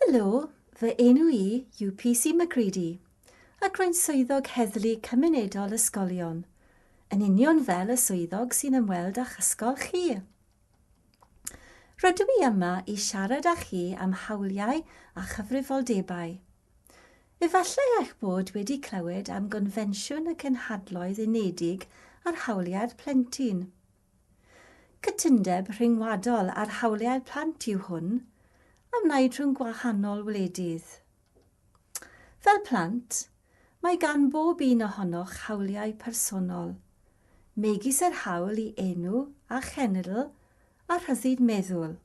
Helo, fy enw i yw PC McGreedy, ac rwy'n swyddog Heddlu Cymunedol Ysgolion, yn union fel y swyddog sy'n ymweld â'ch ysgol chi. Rydw i yma i siarad â chi am hawliau a chyfrifoldebau. Efallai eich bod wedi clywed am Gonfensiwn y Cenhadloedd Unedig ar Hawliau'r Plentyn. Cytundeb rhyngwladol ar hawliau plant yw hwn, a wnaed rhwng gwahanol wledydd. Fel plant, mae gan bob un ohonoch hawliau personol, megis yr hawl i enw a chenedl a rhyddid meddwl.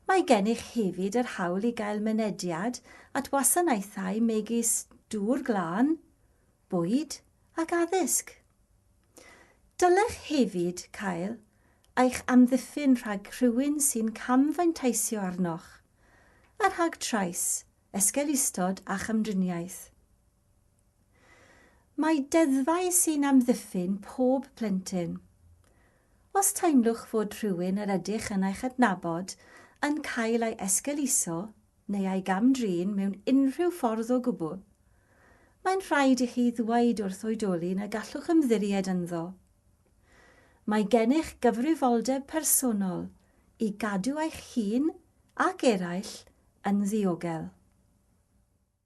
Mae gennych hefyd yr hawl i gael mynediad at wasanaethau megis dŵr glân, bwyd ac addysg. Dylech hefyd cael eich amddiffyn rhag rhywun sy'n camfanteisio arnoch, a rhag trais, esgeulustod a chamdriniaeth. Mae deddfau sy'n amddiffyn pob plentyn. Os teimlwch fod rhywun yr ydych yn eich adnabod yn cael ei esgeuluso, neu ei gam-drin mewn unrhyw ffordd o gwbl, mae'n rhaid i chi ddweud wrth oedolyn na gallwch ymddiried ynddo. Mae gennych gyfrifoldeb personol i gadw eich hun ac eraill yn ddiogel.